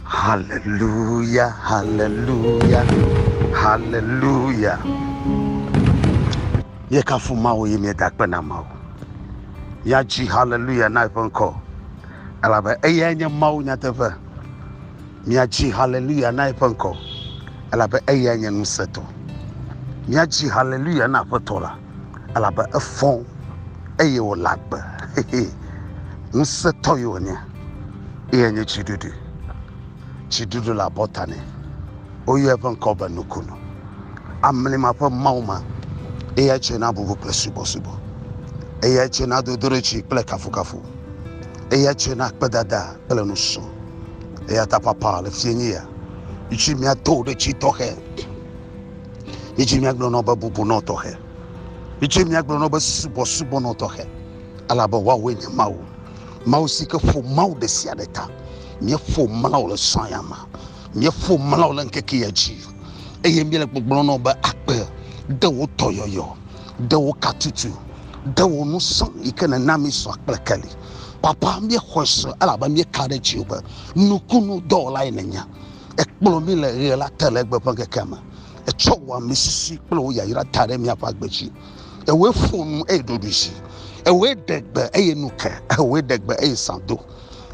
Hallelujah, hallelujah, hallelujah. Ye kafu mawo ye mie da kpe na mawo. Ya ji hallelujah na eƒe ŋkɔ. Elabe eyae nye mawo nyateƒe. Mia ji hallelujah na eƒe ŋkɔ. Elabe eyae nye nusetɔ. Mia ji hallelujah na aƒetɔ la. elabe efɔ eye wòle agbe. Ŋusẽtɔ ye wònye, eye nye tsiɖuɖu. Tsiɖuɖu le abɔta nɛ. Woyɔa eƒe ŋkɔ be Nukunu. Amlima ƒe Mawu ma, eyae tsɔe na bubu kple subɔsubɔ. Eyae tsɔe na dodoɖedzi kple kafukafu. Eyae tsɔe na akpedada kple nusrɔ̃. Eya ta papa le fiẽ nye ya. Mitsi mia to ɖe tsi tɔxɛ. Edzi míagblɔ nɔ be bubunɔ tɔxɛ. Edzi míagblɔ nɔ be subɔsubɔnɔ tɔxɛ. Elabe woawoe nye Mawu. Mawu si ke ƒo Mawu ɖe sia ɖe ta. Míeƒo mlɔ le sɔ ya me. Míeƒo mlɔ le ŋkeke ya dzi. Eye míele gbɔgblɔ nɔ be akpe de wo tɔ yɔyɔ, de wo katutu, de wo nusɔ yi ke nèna mi sɔ kple keli. Papa, míexɔe sɔ elabe míeka ɖe dziwò be nukunu dɔwɔlae nènye. Ekplɔ mí le ɣe la te legbe ƒe ŋkekea me. Etsɔ wò amesisi kple wò yayra ta ɖe míaƒe agbe dzi. Ewòe ƒo nu eye ɖoɖoe dzi. Ewòe ɖe gbe eye nu ke. Ewòe ɖe gbe eye zã do.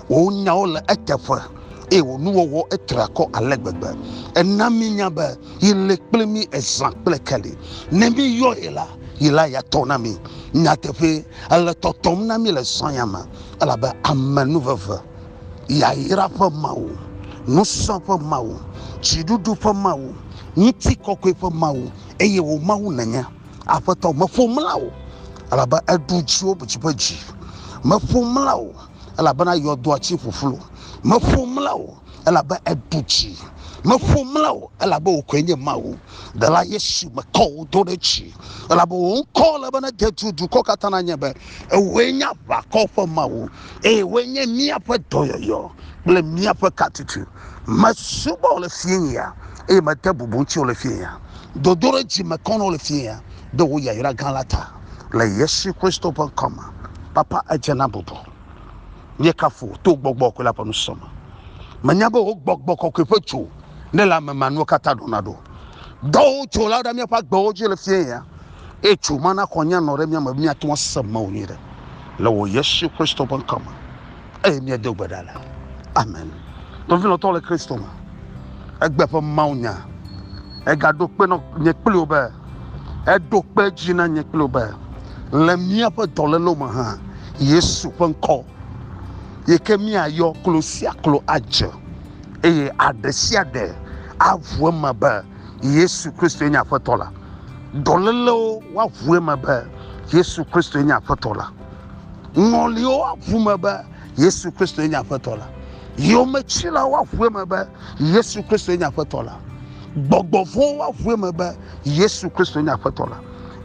Wò nyawo le eteƒe eye wò nuwɔwɔ etre akɔ ale gbegbe. Èna míenya be yi le kple mí ezã kple keli. Ne míyɔ yi la, yi la ya tɔ na mí. Nyateƒee, èle tɔtɔm na mí le zã ya me elabe amenuveve yayra ƒe Mawu, ŋusẽ ƒe Mawu, dziɖuɖu ƒe Mawu, ŋutikɔkɔe ƒe Mawu, eye wò Mawu nènye. Aƒetɔ, meƒo mla wò, elabe èɖu dziwò dzi ƒe dzi. Meƒo mla wò, elabena yɔdoa tsi ƒuƒlu. Meƒo mla wò, elabe èɖu dzi. Meƒo mla wò, elabe wò koe nye Mawu. Ɖela Yesu, mekɔ wò do ɖe dzi, elabe wò ŋkɔ le be nede dukɔ katã na nye be, Ewòe nye aʋakɔ ƒe Mawu. eye woe nye míaƒe dɔyɔyɔ kple míaƒe katutu. Mesubɔ wo le fiẽya eye mede bubu ŋuti wo le fiẽya. Dodoɖedzi mekɔ na wo le fiẽya ɖe wò yayra gã la ta. Le Yesu Kristo ƒe ŋkɔ me, Papa, edze na bubu. Míekafu wò to gbɔgbɔ kɔkɔe la ƒe nusɔsrɔ̃ me. Menya be wò gbɔgbɔ kɔkɔe ƒe dzo ne le ame ma nuwo katã ɖona ɖo. Dɔwo tso la ɖe míaƒe agbewo dzi le fiẽ ya, eye tso ma na xɔ̃nye anɔ ɖe mía me be míate ŋu ase Mawu nyui ɖe. Le wò Yesu Kristo ƒe ŋkɔ me eye míedo gbe ɖa le. Amen. Nɔvi lɔ̃tɔ le Kristo me, egbe ƒe mawunya egaɖo kpe nɔ nye kpli wò be, eɖo kpe edzi na nye kpli wò be, le míaƒe dɔlélewo me hã, Yesu ƒe ŋkɔ yi ke míayɔ klo sia klo adze. eye aɖe sia ɖe aʋu eme be yesu kristoe nye aƒetɔ la dɔlélewo woaʋu eme be yesu kristoe nye aƒetɔ la ŋɔliwo woaʋu me be yesu kristoe nye aƒetɔ la yometsilawo woaʋu eme be yesu kristoe nye aƒetɔ la gbɔgbɔ vɔwo woaʋu eme be yesu kristoe nye aƒetɔ la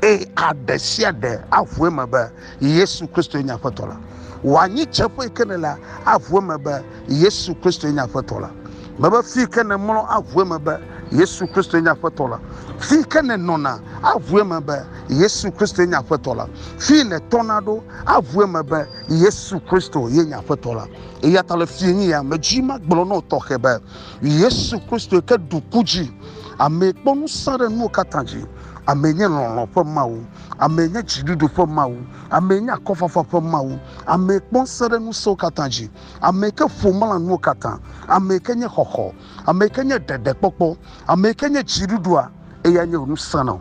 eye aɖe sia ɖe aʋu eme be yesu kristoe nye aƒetɔ la wòanyi tseƒe yi ke ne la aʋu eme be Yesu Kristo nye aƒetɔ la. Mebe fi ke nèmlɔ aʋu eme be Yesu Kristo nye aƒetɔ la. Fi ke nènɔna aʋu eme be Yesu Kristo nye aƒetɔ la. Fi nètɔna ɖo aʋu eme be Yesu Kristo ye nye aƒetɔ la. Eya ta le fi nye ya medzi magblɔ nɔ tɔxɛ be Yesu Kristo ke ɖu ku dzi. Ame kpɔ ŋusẽ ɖe nuwo katã dzi. Ame nye lɔlɔ̃ ƒe Mawu. Ame nye dziɖuɖu ƒe Mawu. Ame nye akɔfafa ƒe Mawu. Ame kpɔ ŋusẽ ɖe ŋusẽwo katã dzi. ame yi ke ƒo mla nuwo katã, ame yi ke nye xɔxɔ, ame yi ke nye ɖeɖekpɔkpɔ, ame yi ke nye dziɖuɖua, eyae nye wò ŋusẽ nɔ.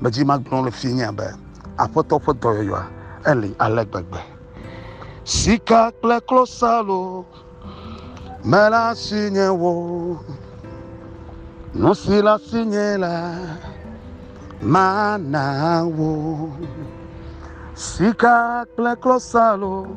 Medzi magblɔ le fi nye be, Aƒetɔ ƒe dɔyɔyɔa eli ale gbegbe. Sika kple klosalo mele asinye o, nu si le asinye la mana wò. Sika kple klosalo.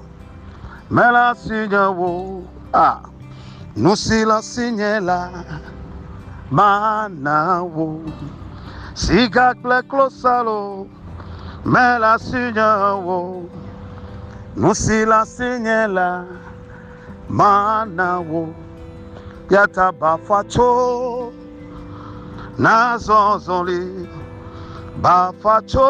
Mele asinye wo a nu si le asinye la mana wo. Sika kple klosalo mele asinye wo nu si le asinye la mana wo. Ya ta bafa tso na zɔzɔli bafa tso.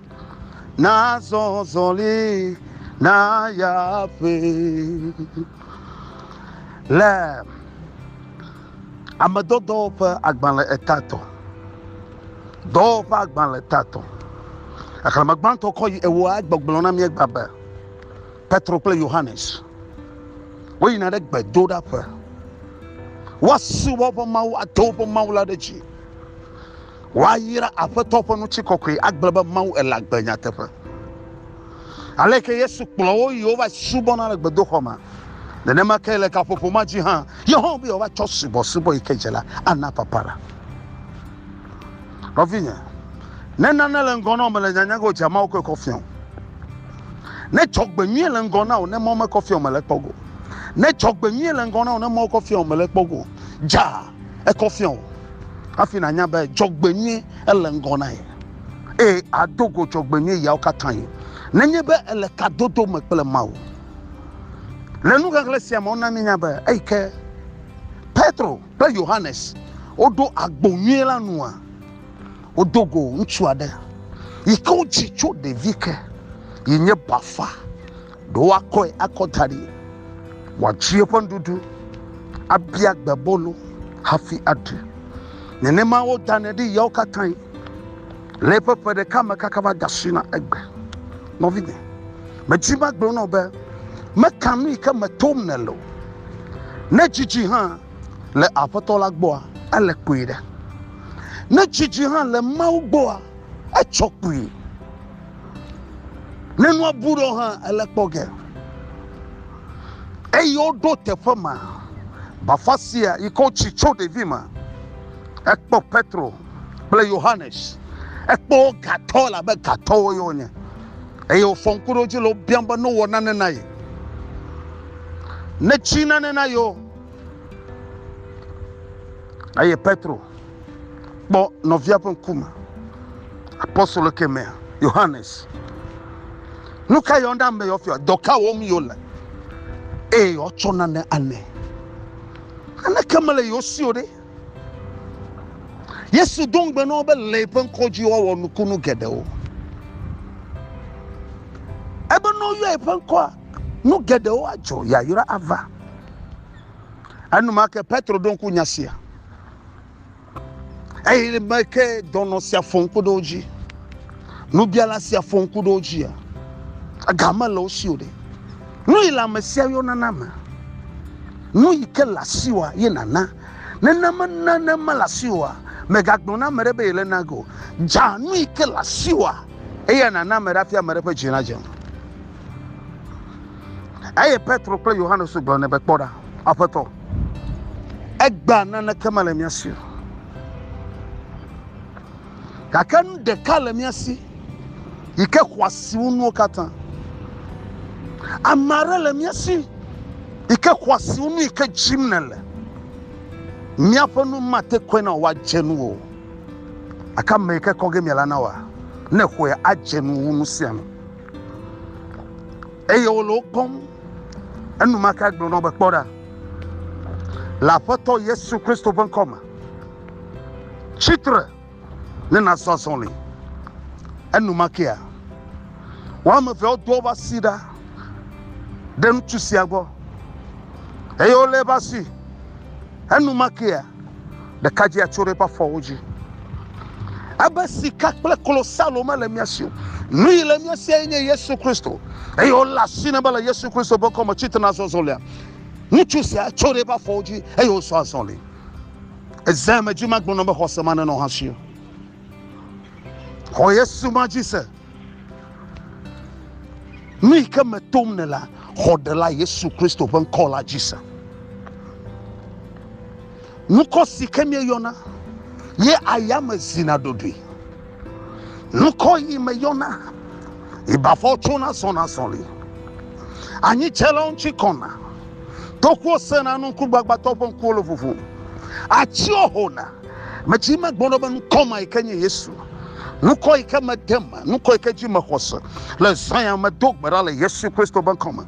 Nazɔ zɔli naya ƒe le ame dɔdɔwo ƒe agbalẽ etatɔ. Dɔwo ƒe agbalẽ etatɔ. Xexlẽme gbãtɔ kɔ yi ewoa gbɔgblɔ na míegba be Petro kple Yohanes woyina ɖe gbedoɖaƒe. Woasubɔ woƒe Mawu, ado woƒe Mawu la ɖe dzi. Woayra Aƒetɔ ƒe ŋutikɔkɔe agblɔ be Mawu ele agbe nyateƒe. Aleke Yesu kplɔ wo yi wova subɔna le gbedoxɔ me. Nenema ke le gaƒoƒo ma dzi hã, Yehowa be yewoava tsɔ subɔsubɔ yi ke dze la ana papala. Nɔvinye, ne nane le ŋgɔ na wò mele nyanya ge o, dze Mawu koe kɔ fia wò. Ne dzɔgbenyui le ŋgɔ na wò ne mɔ mekɔ fia wò mele kpɔ go. Ne dzɔgbenyui le ŋgɔ na wò ne mɔ kɔ fia wò mele kpɔ go. Dza ekɔ fia o hafi nànya be dzɔgbenyui ele ŋgɔ na ye eye ado go dzɔgbenyui yawo katã ye nenye be ele kadodo me kple Mawu. Le nuxexlẽ sia me wona míenya be eyi ke Petro kple Yohanes woɖo agbo nyui la nua wodo go ŋutsu aɖe yi ke wodzi tso ɖevi ke yi nye bafa ɖo woakɔe akɔ da ɖi, wòatsi eƒe nuɖuɖu, abia gbebolo hafi aɖu. Nenema wodanɛ ɖi ɣeawo katãe, le eƒe ƒe ɖeka me kaka va de asi na egbe. Nɔvinye, medi magblɔ nɔ be, meka nu yi ke me tom nèle o. Ne dzidzi hã le Aƒetɔ la gbɔa, ele kpuie ɖe. Ne dzidzi hã le Mawu gbɔa, etsɔ kpuie. Ne nua bu ɖɔ hã ele kpɔ ge. Eyi woɖo teƒe ma. Bafa sia yi ke wotsi tso ɖevi me. Ekpɔ Petro kple Yohanes. Ekpɔ wo gatɔ elabe gatɔwo ye wonye. Eye wofɔ ŋku ɖe wo dzi le wo biam be ne wowɔ nane na ye. Ne tsi nane na yewo. Eye Petro kpɔ nɔvia ƒe ŋkume. Apostolo ke me Yohanes. Nu ka yɔ ɖe ame yɔ fia? Dɔ ka wɔm yɔ le? Eye yɔtsɔ nane anɛ. Aneke mele yɔ si o ɖe. Yesu do ŋugbe na wo be le ƒe ŋkɔ dzi woawɔ nukunu geɖewo. Ebe ne woyɔ eƒe ŋkɔa, nu geɖewo adzɔ, yayra ava. Enumake Petro ɖo ŋku nya sia. Eye me ke dɔnɔ sia fɔ ŋku ɖe wo dzi. Nubiala sia fɔ ŋku ɖe wo dzia, ega mele wo si o ɖe. Nu yi le ame sia yɔ nana me. Nu yi ke le asiwòa ye nàna. Nene mena ne mele asiwòa, mègagblɔ na ame ɖe be yele na ge o. Dza nu yi ke le asiwòa eye nàna ame ɖe hafi ame ɖe ƒe dzi nadze. Eye Petro kple Yohanes gblɔ nɛ be, Kpɔ ɖa, Aƒetɔ, egbea naneke mele mía si o. Gake nu ɖeka le mía si yi ke xɔ asi wu nuwo katã. Ame aɖe le mía si yi ke xɔ asi wu nu yi ke dzim nèle. Míaƒe nu mate kɔe na wò woadze nu o. Gake ame yi ke kɔ ge mìala na wòa, ne xɔe adze nu wu nu sia nu. eye wole wo kpɔm. Enumake gblɔ nɔ be, Kpɔ ɖa, le Aƒetɔ Yesu Kristo ƒe ŋkɔ me, tsi tre ne nàzɔ azɔli. Enumakea, woame evea wodo woƒe asi ɖa ɖe ŋutsu sia gbɔ eye wolé eƒe asi. Enumakea, Ɖekadzia tso ɖe eƒe afɔwo dzi. Ebe sika kple klosalo mele mía si o. Nu yi le mía si enye Yesu Kristo. Eye wole asi ne be le Yesu Kristo ƒe kɔme tsitre na zɔzɔlia. Ŋutsu sia tso ɖe eƒe afɔwo dzi eye wosɔ azɔli. Eze me dzi magblɔ na be xɔse ma nenɔ hã si. Xɔ Yesu ma dzi se. Nu yi ke me tom nèlea, xɔ Ɖela Yesu Kristo ƒe ŋkɔ la dzi se. Ŋkɔ si ke míeyɔna ye ayame zina ɖoɖoe. Ŋkɔ yi meyɔna yi bafɔ tsona zɔna zɔli. Anyi tse la ŋuti kɔna. Tokuwo sena nu ŋkugbagbatɔ ƒe ŋkuwo le ʋuʋum. Atsiwo hona. Metsi eme gbɔɖɔ be nukɔ ma yi ke nye Yesu. Nukɔ yi ke mede me, nukɔ yi ke dzi mexɔ se le zã ya me do gbe ɖa le Yesu Kristo ƒe ŋkɔ me.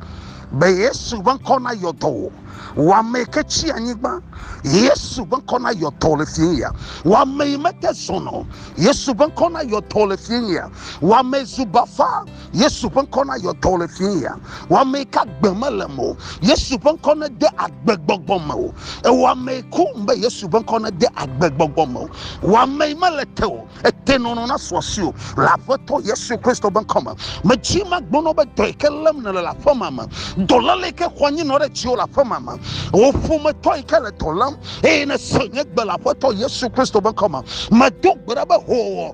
Be Yesu ƒe ŋkɔ na yɔ dɔ wò. Wɔ ame yi ke tsi anyigba. Yesu ƒe ŋkɔ na yɔ dɔ le fie ya. Wɔ ame yi mete zɔnɔ. Yesu ƒe ŋkɔ na yɔ dɔ le fie ya. Wɔ ame zu bafa. yesu ƒe ŋkɔ na yɔ dɔ le fie ya wɔame ka gbe mele me o yesu ƒe ŋkɔ ne de agbegbɔgbɔ me o ewɔame kum be yesu ƒe ŋkɔ ne de agbegbɔgbɔ me o wɔame mele te o ete nɔnɔ na sɔ si o le aƒetɔ yesu kristo ƒe ŋkɔ me medzi ma gbɔnɔ be dɔ yi ke lém nele le aƒe ma me dɔléle ke xɔ anyi nɔ ɖe dziwo le aƒe ma me wò ƒometɔ yi ke le dɔ lém eye ne se nye gbe le aƒetɔ yesu kristo ƒe ŋkɔ me medo gbe ɖa be hoo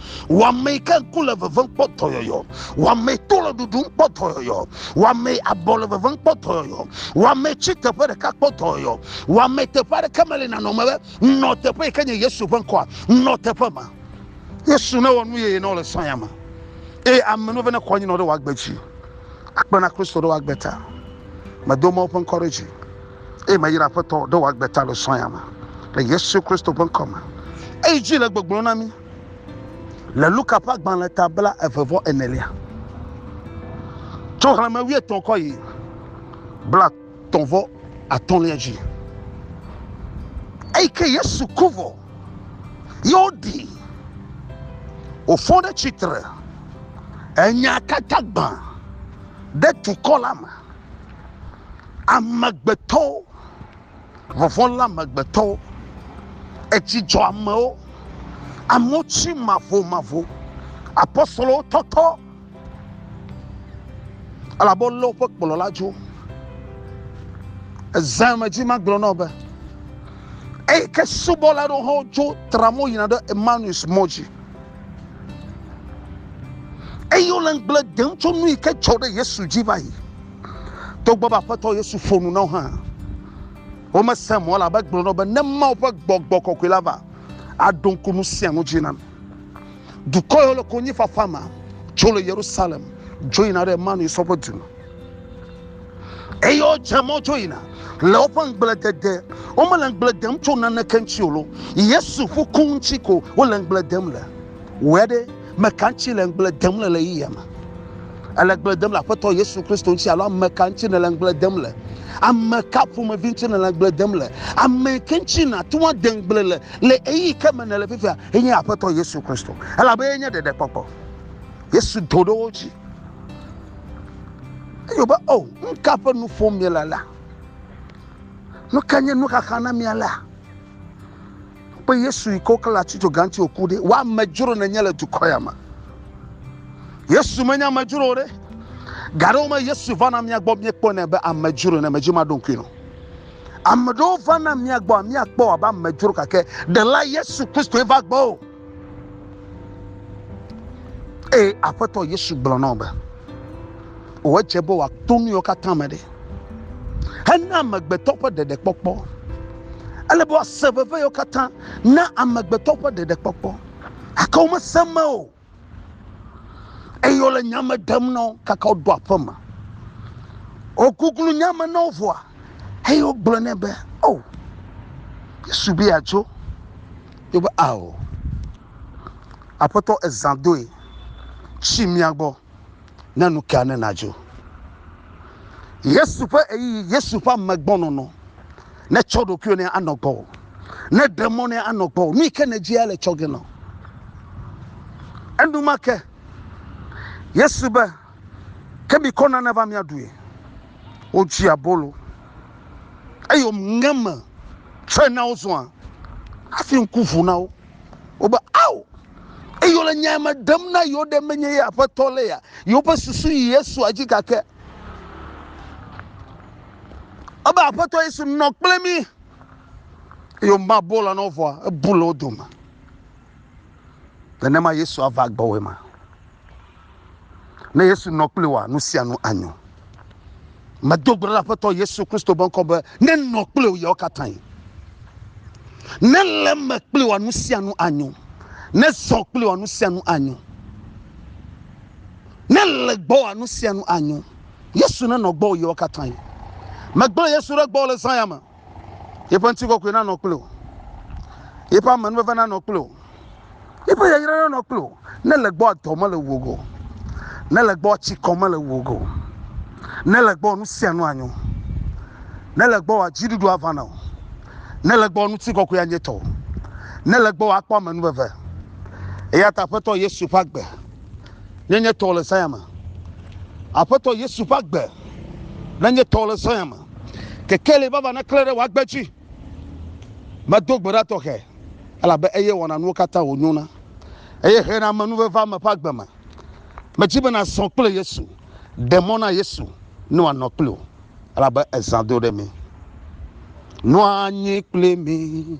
Wamei ke ŋku le vevem kpɔ dɔyɔyɔ. Wamei to le ɖuɖum kpɔ dɔyɔyɔ. Wamei abɔ le vevem kpɔ dɔyɔyɔ. Wamei tsi teƒe ɖeka kpɔ dɔyɔyɔ. Wamei teƒe aɖeke meli nanɔ me be nɔ teƒe yi ke nye Yesu ƒe ŋkɔa. Nɔ teƒe ma. Yesu ne wɔ nu yeye na wo le sɔya me. Eye ame nuve ne kɔ anyi nɔ ɖe wòagbe dzi. Akpe na Kristo ɖe wòagbe ta. Medo Mawu ƒe ŋkɔ ɖe dzi. Eye meyra Aƒetɔ ɖe wòagbe ta le sɔya me. Le Yesu Kristo ƒe ŋkɔ me. Eyi dzi le gbɔgblɔ na mi. le Luka ƒe agbalẽ ta bla eve vɔ enelia. Tso xlẽme wuietɔ̃ kɔ yi bla tɔ vɔ atɔ̃lia dzi. Eyi ke Yesu ku vɔ, ye woɖi wòfɔ ɖe tsitre enya katã gbã ɖe dukɔ la me. Amegbetɔwo Vɔvɔ̃ lé amegbetɔwo, edzi dzɔ amewo, amewo tsi mavomavo. Apostolowo tɔtɔ elabe wolé woƒe kplɔla dzo. Eze me dzi magblɔ na wò be eyi ke subɔla aɖewo hã wodzo tra mo yina ɖe Emmaus mɔ dzi eye wole ŋugble dem tso nu yi ke dzɔ ɖe Yesu dzi va yi. Togbɔ be Aƒetɔ Yesu ƒo nu na wo hã, womese mɔ o elabe egblɔ na wo be, Ne Mawu ƒe gbɔgbɔ kɔkɔe la va, aɖo ŋku nu sia nu dzi na mi. Dukɔ yawo le konyifafa me tso le Yerusalem dzo yina ɖe Emanuisɔ ƒe du me. Eye wodze mɔ dzo yina le woƒe ŋugble dede. Womele ŋugble dem tso naneke ŋuti o lo, Yesu ƒu ku ŋuti ko wole ŋugble dem le. Wɔe ɖe! Ame ka ŋuti le ŋugble dem le ɣeyiɣia me? Ele ŋugble dem le Aƒetɔ Yesu Kristo ŋuti alo ame ka ŋuti nèle ŋugble dem le? Ame ka ƒomevi ŋuti nèle ŋugble dem le? Ame ke ŋuti nàte ŋu ade ŋugble le le ɣeyiɣi ke me nèle fifia enye Aƒetɔ Yesu Kristo, elabe enye ɖeɖekpɔkpɔ. Yesu do ɖe wo dzi. Eyo be, O, nu ka ƒe nu ƒom miele alea? Nu ka nye nuxaxa na mi alea? Kpe Yesu yi ke woklã le ati dzoga ŋuti wòku ɖi. Wò amedzro nènye le dukɔ ya me. Yesu menye amedzro o ɖe. Ga ɖewo me Yesu vana mía gbɔ míekpɔnɛ be amedzro ne medzi maɖo ŋkui nɔ. Ame ɖewo vana mía gbɔ míakpɔ abe amedzro gake ɖela Yesu Kristoe va gbɔ o. Eye Aƒetɔ Yesu gblɔ na wo be, wòdze be wòato nu yiwo katã me ɖe. hena amegbetɔ ƒe ɖeɖekpɔkpɔ. Ele be woase veve yewo katã na amegbetɔ ƒe ɖeɖekpɔkpɔ. Gake womese eme o. Eye wole nya me ɖem na wo kaka woɖo aƒe me. Woguglu nya me na wo vɔa, eye wogblɔ nɛ be, O, oh, Yesu be yeatso. Yo be, Ao, Aƒetɔ, ezã doe, tsi mía gbɔ. ne nu ka ne nadzo. Yesu ƒe ɣeyiɣi, Yesu ƒe amegbɔnɔnɔ ne tsɔ ɖokuiwò ne anɔ gbɔwò, ne ɖe mɔ ne anɔ gbɔwò, nu yi ke nèdzia le tsɔ ge nɔ. Enumake, Yesu be, ke mikɔ nane va miaɖui. Wodzi abolo eye woŋe me tsɔe na wo zɔa hafi ŋku ʋu na wo. Wobe, Ao! Eyi wole nyae me ɖem na yewo ɖe menye ye aƒetɔ le ya. Yewoƒe susu yi Yesua dzi gake. Ebe aƒetɔ Yesu nɔ kple mi. Eye woma bɔ la nɔ vɔa, ebu le wo dome. Nenema Yesua va gbɔwòe ma. Ne Yesu nɔ kpli wòa, nu sia nu anyo. Medo gbe ɖa Aƒetɔ Yesu Kristo be ŋkɔ be nenɔ kpli wò yawo katã. Ne le me kpli wòa, nu sia nu anyo. Ne zɔ kpli wòa, nu sia nu anyo. Ne le gbɔ wòa, nu sia nu anyo. Yesu nenɔ gbɔ wò yawo katã. Megblẽ Yesu ɖe gbɔ le zã ya me. Yeƒe ŋutikɔkɔe nanɔ kple wò. Yeƒe amenuveve nanɔ kple wò. Yeƒe yayra nanɔ kple wò. Ne le gbɔ dɔ mele wò go. Ne le gbɔ tsikɔ mele wò go. Ne le gbɔ nu sia nu anyo. Ne le gbɔ wòa dziɖuɖu ava na wò. Ne le gbɔ ŋutikɔkɔe anye tɔwò. Ne le gbɔ wòa kpɔ amenuveve. Eya ta Aƒetɔ Yesu ƒe agbe nenye tɔwò le Zion me. Aƒetɔ Yesu ƒe agbe nenye tɔwò le Zion me. Kekeli vava neklẽ ɖe wò agbe dzi. Medo gbe ɖa tɔxɛ, elabe eye wɔna nuwo katã wònyona, eye hena ame nuveveame ƒe agbe me. Medi be nàzɔ kple Yesu. Ɖe mɔ na Yesu ne wòanɔ kple wò, elabe ezã do ɖe mí. Nɔa anyi kple mí.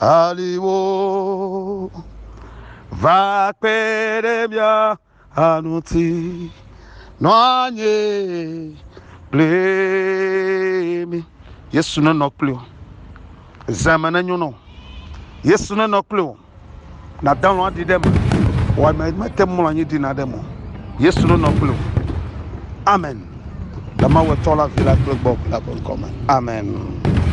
aliwo va kpe ɖe mía ŋuti nɔ anyi kple mi yesu nenɔ kple o zeme nenyo nɔ yesu nenɔ kple o nadalɔ aɖi ɖe me wɔame mete mlɔ anyi dina ɖe me yesu nenɔ kple o amen le mawetɔ la vi la kple gbɔ la ƒe ŋkɔ me amen